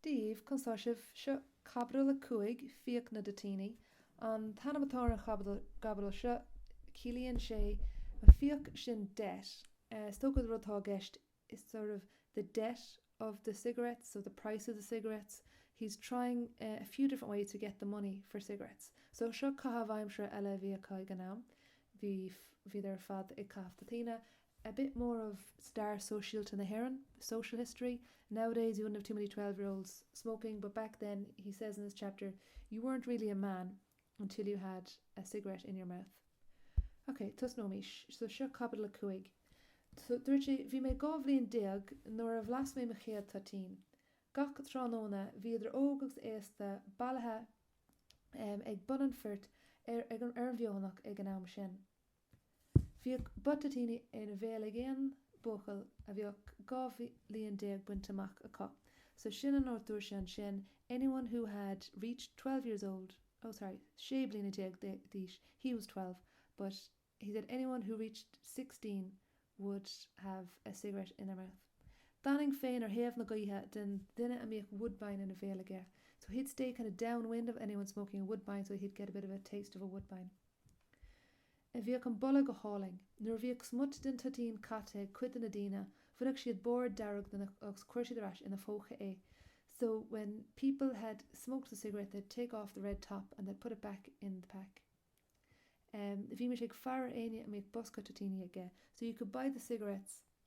daoibh, conas tá sibh. Seo caibidil a cúig, Fiach na dToitíní, an t-ainm atá ar an chaibidil seo. Ciallaíonn sé an fiach sin debt. Is dócha an rud atá i gceist, It's sort of the debt of the cigarettes, so the price of the cigarettes. He's trying a few different ways to get the money for cigarettes. So seo caitheamh aimsire eile a bhí acu ag an am. Bhí, bhíodar ar fad ag caitheamh toitíní. a bit more of stair shóisialta na hÉireann, social history, nowadays you wouldn't have too many twelve-year-olds smoking but back then he says in this chapter you weren't really a man until you had a cigarette in your mouth. Ok, tosnóimís. So seo Caibidil a Cúig. So dúirt sé, Bhí mé dhá bhliain déag nuair a bhlas mé mo chéad toitín. Gach tráthnóna bhíodh idir óg agus aosta bailithe ag bun an phoirt ar an bhFeothanach ag an am sin. Bhíodh butt toitín ina bhéal ag aon buachaill a bheadh dhá bhliain déag bainte amach acu. So sin an áit dúirt sé ansin, anyone who had reached twelve years old, oh sorry sé bliana déag d'aois, he was twelve but he said anyone who reached sixteen would have a cigarette in their mouth. D'fhanainn féin ar thaobh na gaoithe den duine a mbíodh Woodbine ina bhéal aige. So he'd stay kind of downwind of anyone smoking a Woodbine so he'd get a bit of a taste of a Woodbine. a bhíodh an boladh go hálainn. Nuair a bhíodh smut den toitín caithte ag cuid de na daoine bhaineadh siad barr dearg de agus chuireadh siad ar ais ina phóca é so when people had smoked the cigarette they'd take off the red top and they'd put it back in the pack. Bhímís ag faire ar éinne a mbíodh bosca toitíní aige so you could buy the cigarettes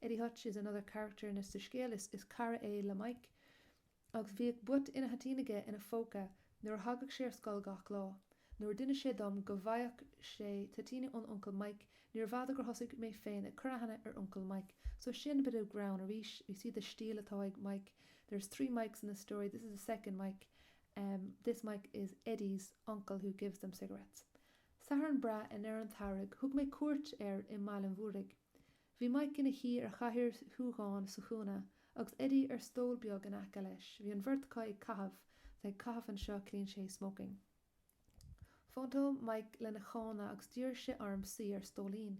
Eddie Hutch is another character in this scéal, is cara é le Mike agus bhíodh butt ina thoitín aige ina phóca nuair a thagadh sé ar scoil gach lá. Nuair a d'inis sé dom go bhfaigheadh sé toitíní ón Uncail Mike níor bhfada gur thosaigh mé féin ag cur aithne ar Uncail Mike. So sin a bit of greann arís, you see the stíl atá ag Mike. There's three Mikes in the story, this is the second Mike. This Mike is Eddie's uncle who gives them cigarettes. Satharn breá i ndeireadh an tsamhraidh thug mé cuairt air i mBaile an Mhúraigh. Bhí Mike ina shuí ar chathaoir shúgáin sa chúinne agus Eddie ar stól beag in aice leis. Bhí an bheirt acu ag caitheamh, bheith ag caitheamh anseo ciallaíonn sé smoking. Phointeáil Mike lena chána agus d'iarr sé orm suí ar stóilín.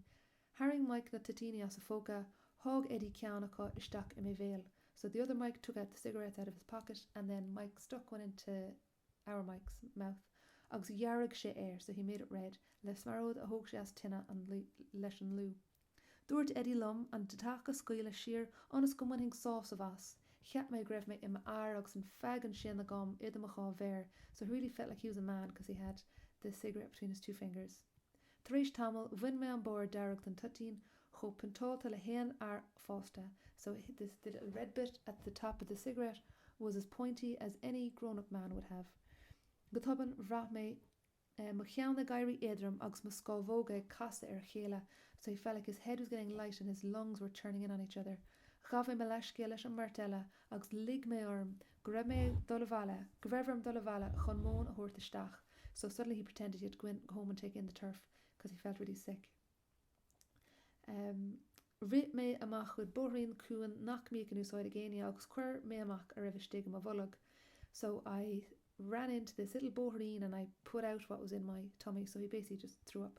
Tharraing Mike na toitíní as a phóca, sháigh Eddie ceann acu isteach i mo bhéal so the other Mike took out the cigarette out of his pocket and then Mike stuck one into our Mike's mouth, agus dhearg sé é, so he made it red, le smearóid a thóg sé as an tine leis an tlú. Dúirt Eddie liom an deatach a scaoileadh siar ionas go mbainfinn sásamh as. Cheap mé go raibh mé i m'fhear agus an feaig ansin agam idir mo dhá mhéar, so he really felt like he was a man cos he had the cigarette between his two fingers. Tar éis tamaill bhain mé an barr dearg den toitín, chomh pointeáilte le haon fhear fásta, so the little red bit at the top of the cigarette was as pointy as any grownup man would have. Go tobann bhraith mé mo cheann ag éirí éadrom agus mo scámhóga ag casadh ar a chéile, so he felt like his head was getting light and his lungs were turning in on each other. Ghabh mé mo leathscéal leis an mbeirt eile agus lig mé orm go raibh mé ag dul abhaile, go raibh orm dul abhaile chun móin a thabhairt isteach so suddenly he pretended he had to go in, go home and take in the turf because he felt really sick um rith mé amach chuig bóithrín cúng nach mbíodh in úsáid ag éinne agus chuir mé amach a raibh istigh i mo bholg so I ran into this little bóithrín and I put out what was in my tummy so he basically just threw up.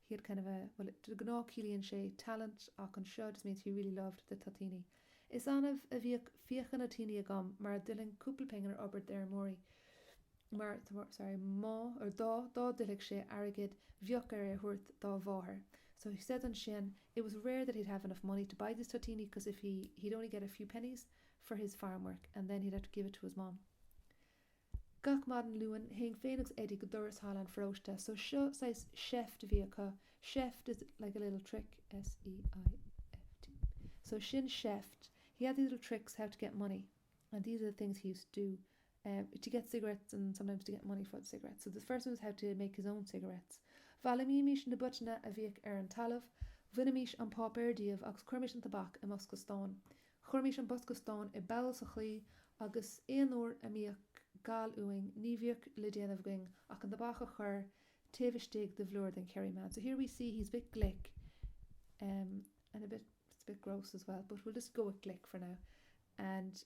he had kind of a, bhuel, de ghnáth ciallaíonn sé talent ach anseo just means he really loved the toitíní. Is annamh a bhíodh fiacha na toitíní agam mar dá dtuillfinn cúpla pingin ar obair d'fheirmeoirí mar, sorry, má, or dá, dá dtuillfeadh sé airgead bheadh air é a thabhairt dá mháthair so he said ansin it was rare that he'd have enough money to buy these toitíní because if he, he'd only get a few pennies for his farm work and then he'd have to give it to his mom. Gach maidin Luain théinn féin agus Eddie go doras halla an pharóiste so seo saghas seift a bhí acu, seift is like a little trick, S-E-I-F-T, so sin seift, he had these little tricks how to get money and these are the things he used to do eh to get cigarettes and sometimes to get money for the cigarettes so the first one was how to make his own cigarettes. Bhailímís na butanna a bhíodh ar an talamh, bhainimís an páipéar díobh agus chuirimís an tobac i mbosca stáin. Chuirimís an bosca stáin i bpoll sa chlaí agus aon uair a mbíodh gal uainn ní bhíodh le déanamh againn ach an tobac a chur taobh istigh de bhlúire den Kerryman. So here we see he's a bit glic em and a bit, it's a bit gross as well but we'll just go with glic for now and.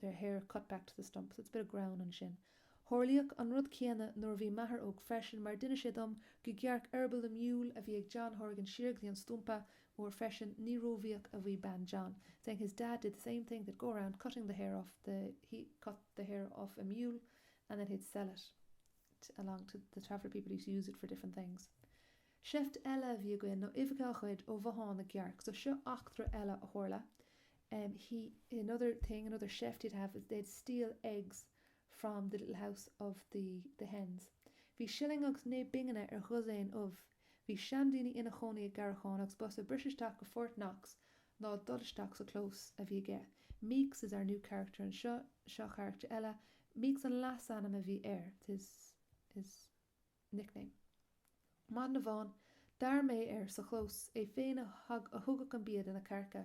There hair cut back to the stump, so it's a bit of grown ansin. Tharlaíodh an rud céanna nuair a bhí m'athair óg freisin mar d'inis sé dom go gcearc eirball na miúil a bhí ag John Horgan siar go dtí an stumpa mór freisin ní róbhíoch a bhí bean John saying his dad did the same thing they'd go around cutting the hair off the he cut the hair off a mule and then he'd sell it along to the traveller people used to use it for different things Seift eile a bhí againn nó uibheacha a ghoid ó bhothán na gcearc. So seo eachtra eile a tharla. Em, he, another thing, another seift he'd have is they'd steal eggs from the little house of the, the hens. Bhí shilling agus naoi bpingine ar dhosaen ubh. Bhí seanduine ina chónaí i gCarrachán agus b'fhusa briseadh isteach go Fort Knox ná dul isteach sa chlós a bhí aige. Meeks is our new character anseo, seo carachtar eile. Meeks an leasainm a bhí air, his, his. nickname. Maidin amháin d'fhair mé air sa chlós, é féin a thugadh an bia do na cearca.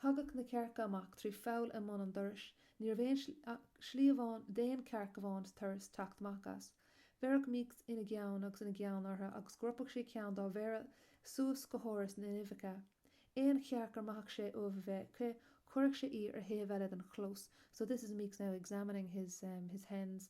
Thagadh na cearca amach trí pholl i mbun an dorais, ní raibh aon slí amháin d'aon chearc amháin sa turas teacht amach as. Bheireadh Meeks ina gceann agus ina gceann orthu agus ropadh sé ceann dá mhéara suas go háras na n-uibheacha. Aon chearc a mbraitheadh sé ubh a bheith aici chuireadh sé í ar thaobh eile den chlós so this is Meeks now examining his his hens.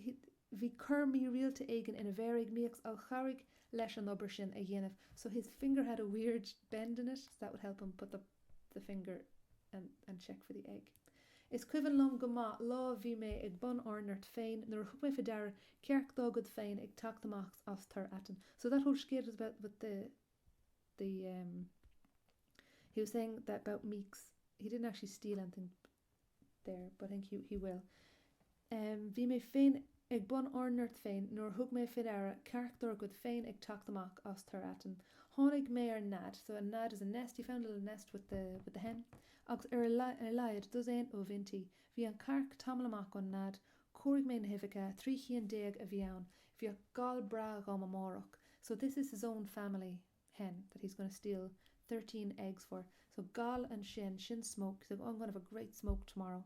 ii, Bhí cor mírialta éigin ina mhéar ag Míocs a chabhraigh leis an obair sin a dhéanamh, so his finger had a weird bend in it, so that would help him put up the finger and check for the egg. Is cuimhin liom go maith lá bhí mé ag bun ár ngoirt féin nuair a thug mé faoi deara cearc dár gcuid féin ag teacht amach as tor aitinn, so that whole scéal was about with the the em he was saying that about Míocs he didn't actually steal anything but. there, but I think he, he will. Bhí mé féin ag bun ár ngoirt féin nuair a thug mé fé ndeara cearc dár gcuid féin ag teacht amach as tor aitinn. Tháinig mé ar nead, so a nead is a nest, he found a little nest with the, with the hen, agus ar a, ar a laghad dosaen ubh inti. Bhí an chearc tamall amach ón nead. Chomhairigh mé na huibheacha, trí chinn déag a bhí ann. Bheadh gal breá agam amárach. So this is his own family. hen, that he's going to steal thirteen eggs for, so gal ansin, sin smoke, so I'm going to have a great smoke tomorrow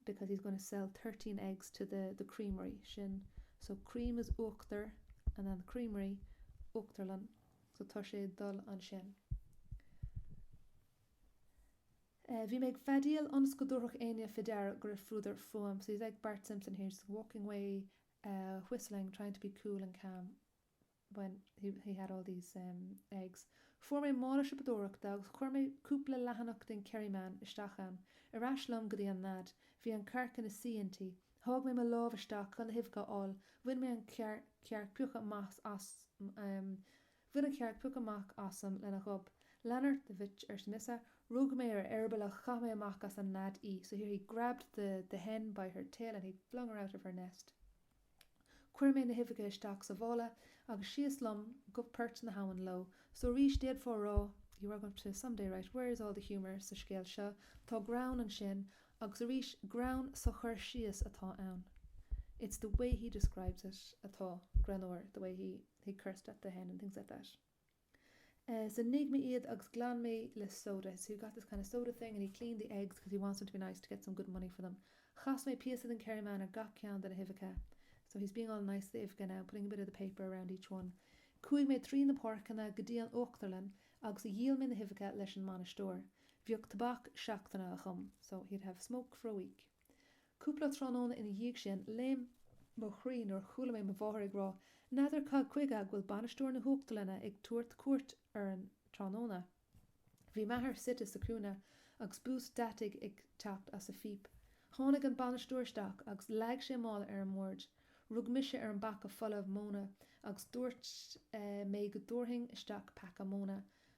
because he's going to sell thirteen eggs to the, the creamery, sin, so cream is uachtar and then creamery, uachtarlann, so tá sé ag dul ansin. Eh, bhí mé ag feadaíl ionas go dtabharfadh éinne fé deara go raibh fuadar fúm, so he's like Bart Simpson here, just walking away, eh, whistling, trying to be cool and calm. when he, he had all these, um, eggs. Fuair mé mála siopadóireachta agus chuir mé cúpla leathanach den Kerryman isteach ann. Ar ais liom go dtí an nead. Bhí an chearc ina suí inti. Sháigh mé mo lámh isteach chun na huibheacha a fháil. Bhain mé an, bhain an chearc piocadh amach asam lena ghob. Lean ort, a bhitch, arsa mise. Rug mé ar a heireaball agus chaith mé amach as an nead í, so here he grabbed the, the hen by her tail and he flung her out of her nest. Chuir mé na huibheacha isteach sa mhála agus síos liom go port na h-abhann leo. So arís, d'fhéadfá a rá, some day write, Where is all the humour sa scéal seo? Tá greann ansin, agus arís, greann sa chur síos atá ann. It's the way he describes it atá greannmhar, the way he he cursed at the hen and things like that. So nigh mé iad agus glan mé le soda. So he got this kind of soda thing and he cleaned the eggs because he wants them to be nice to get some good money for them. Chas mé píosa den Kerryman ar gach ceann de na huibheacha. So he's being all nice to the uibheacha now, putting a bit of the paper around each one. Chuaigh mé trí na páirceanna go dtí an uachtarlann agus dhíol mé na huibheacha leis an mbainisteoir. Bheadh tobac seachtaine agam. So he'd have smoke for a week. Cúpla tráthnóna ina dhiaidh sin, léim mo chroí nuair a chuala mé mo mháthair ag rá, N'fheadar cad chuige go bhfuil bainisteoir na huachtarlainne ag tabhairt cuairt orainn tráthnóna? Bhí m'athair suite sa chúinne agus bús deataigh ag teacht as a phíp. Tháinig an bainisteoir isteach agus leag sé mála ar an mbord. Rug mise ar an bpaca folamh móna agus dúirt mé go dtabharfainn isteach paca móna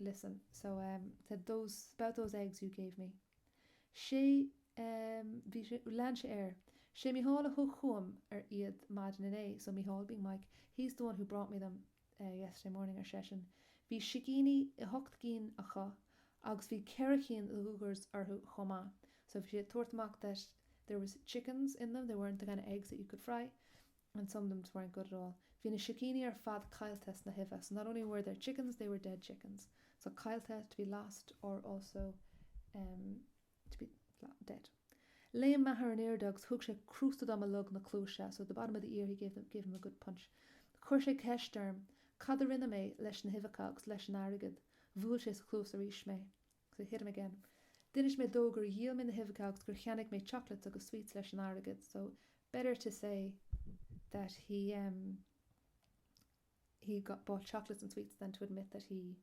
listen, so ehm, said those, about those eggs you gave me. Sé, ehm, bhí sé, lean sé air, Sé Micheál a thug chugam ar iad maidin inné, so Micheál being Mike, he's the one who brought me them eh yesterday morning, ar seisean. Bhí sicíní i hocht gcinn acu agus bhí ceithre cinn de ghliogars orthu chomh maith. So bhí sé ag tabhairt amach that there was chickens in them, they weren't the kind of eggs that you could fry. and some of them just weren't good at all bhí na sicíní ar fad caillte sna huibhe so not only were there chickens they were dead chickens so caillte to be lost or also um to be dead léim m'athair an airde agus thug sé crústa dom i log na cluaise so at the bottom of the ear he gave them gave him a good punch chuir sé ceist orm cad a rinne mé leis na huibheacha agus leis an airgead bhuail sé sa chluas arís mé to hit him again. D'inis mé dó gur dhíol mé na huibheacha agus gur cheannaigh mé chocolates agus sweets leis an airgead so better to say that he, em, he got, bought chocolates and sweets than to admit that he,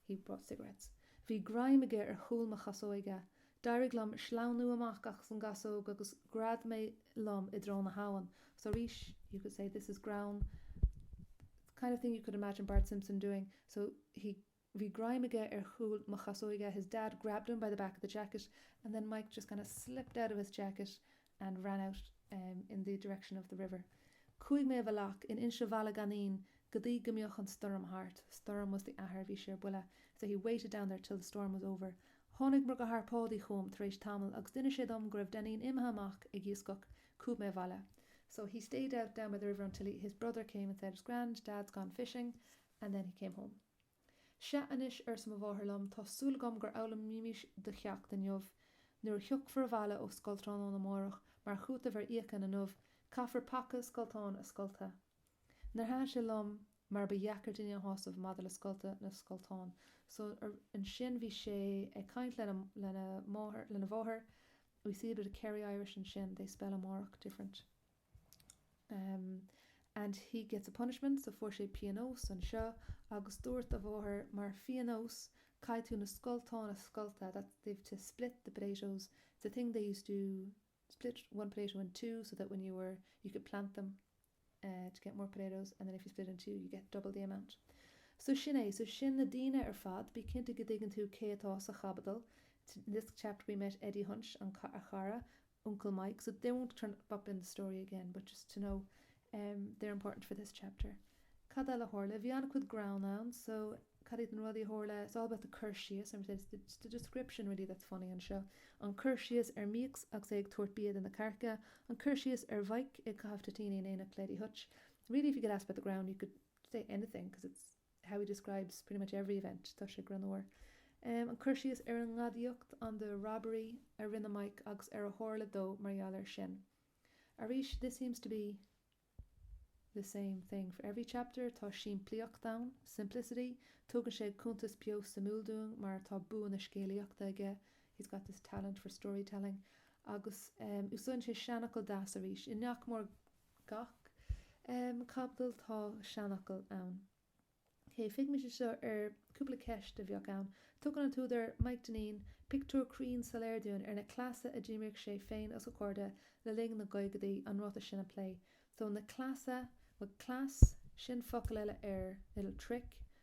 he bought cigarettes. Bhí greim aige ar chúl mo chasóige. D'éirigh liom sleamhnú amach as an gcasóg agus ghread mé liom i dtreo na habhann. So arís, you could say this is greann, the kind of thing you could imagine Bart Simpson doing, so he, Bhí greim aige ar chúl mo chasóige, his dad grabbed him by the back of the jacket and then Maidhc just kind of slipped out of his jacket and ran out in the direction of the river. Chuaigh mé i bhfalach in Inse Bhaile Ghainnín go dtí go mbeadh an stoirm thart, Stoirm was the athair a bhí sé ar buile, so he waited down there till the storm was over. Tháinig mo dheartháir Páidí chugam tar éis tamaill agus d'inis sé dom go raibh Dainín imithe amach ag iascach. Chuaigh mé abhaile. So he stayed out down by the river until he, his brother, came and said, It's grand, Dad's gone fishing, and then he came home. Sea anois, arsa mo mháthair liom, tá súil agam gur fhoghlaimís do cheacht inniu. Nuair a thiocfair abhaile ó scoil tráthnóna amáireach, mar chúiteamh ar fhiacha inniu, caithfir paca scoltán a scoltadh. Níor thaitin sé liom mar ba dheacair duine a shásamh maidir le scoltadh na scoltán so ansin bhí sé ag caint lena, lena máthair, lena mháthair, we see a bit of Kerry Irish ansin, they spell amárach different. em. and he gets a punishment, so fuair sé píonós anseo agus dúirt a mháthair mar phíonós caithfidh tú na scolteáin a scoltadh that they've to split the potatoes, it's a thing they used to split one potato in two so that when you were, you could plant them eh to get more potatoes and then if you split it in two you get double the amount. So sin é, so sin na daoine ar fad, bí cinnte go dtuigeann tú cé atá sa chaibidil, t-this chapter we met Eddie Hunt, an, a chara, Uncle Mike, so they won't turn up in the story again but just to know ehm they're important for this chapter. Cad eile a tharla? Bhí an-chuid greann ann so cad iad na rudaí a tharla? It's all about the cur síos and it's the it's the description really that's funny anseo. An cur síos ar Meeks agus é ag tabhairt bia do na cearca. An cur síos ar Mhike ag caitheamh toitíní in éineacht Lady Hutch. Really if you could ask about the greann you could say anything because it's. how he describes pretty much every event, tá sé greannmhar. An cur síos ar an ngadaíocht, on the robbery, a rinne Maidhc agus ar a tharla dó mar gheall air sin. Arís, this seems to be the same thing for every chapter, tá simplíocht ann, simplicity, tugann sé cuntas beo suimiúil dúinn mar tá bua na scéalaíochta aige, he's got this talent for storytelling, agus úsáideann sé seanfhocal deas arís. In nach mór. gach caibidil tá seanfhocal ann. OK, féachaimis anseo ar cúpla ceist a bheadh ann. Tugann an t-údar, Maidhc Dainín, pictiúr cruinn soiléir dúinn ar na cleasa a d'imríodh sé féin agus a chairde le linn na gcaogaidí, an ráiteas sin a phlé. So na cleasa, bhuel cleas, sin focal eile air, little trick,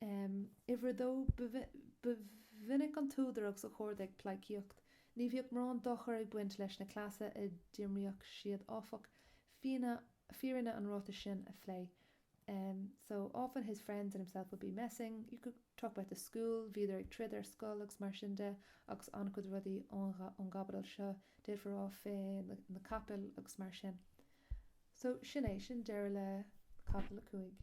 Um uimhir a dó, ba mhinic an t-údar agus a chairde ag pleidhcíocht. Ní bhíodh mórán dochair ag baint leis na cleasa a d'imríodh siad áfach, fírinne an ráitis sin a phlé. Um so often his friends and himself would be messing, you could talk about the school, bhíodar ag troid ar scoil agus mar sin de agus an-chuid rudaí ón gcaibidil seo d'fhéadfá rá faoi na capaill agus mar sin. So sin é, sin deireadh le caibidil a cúig.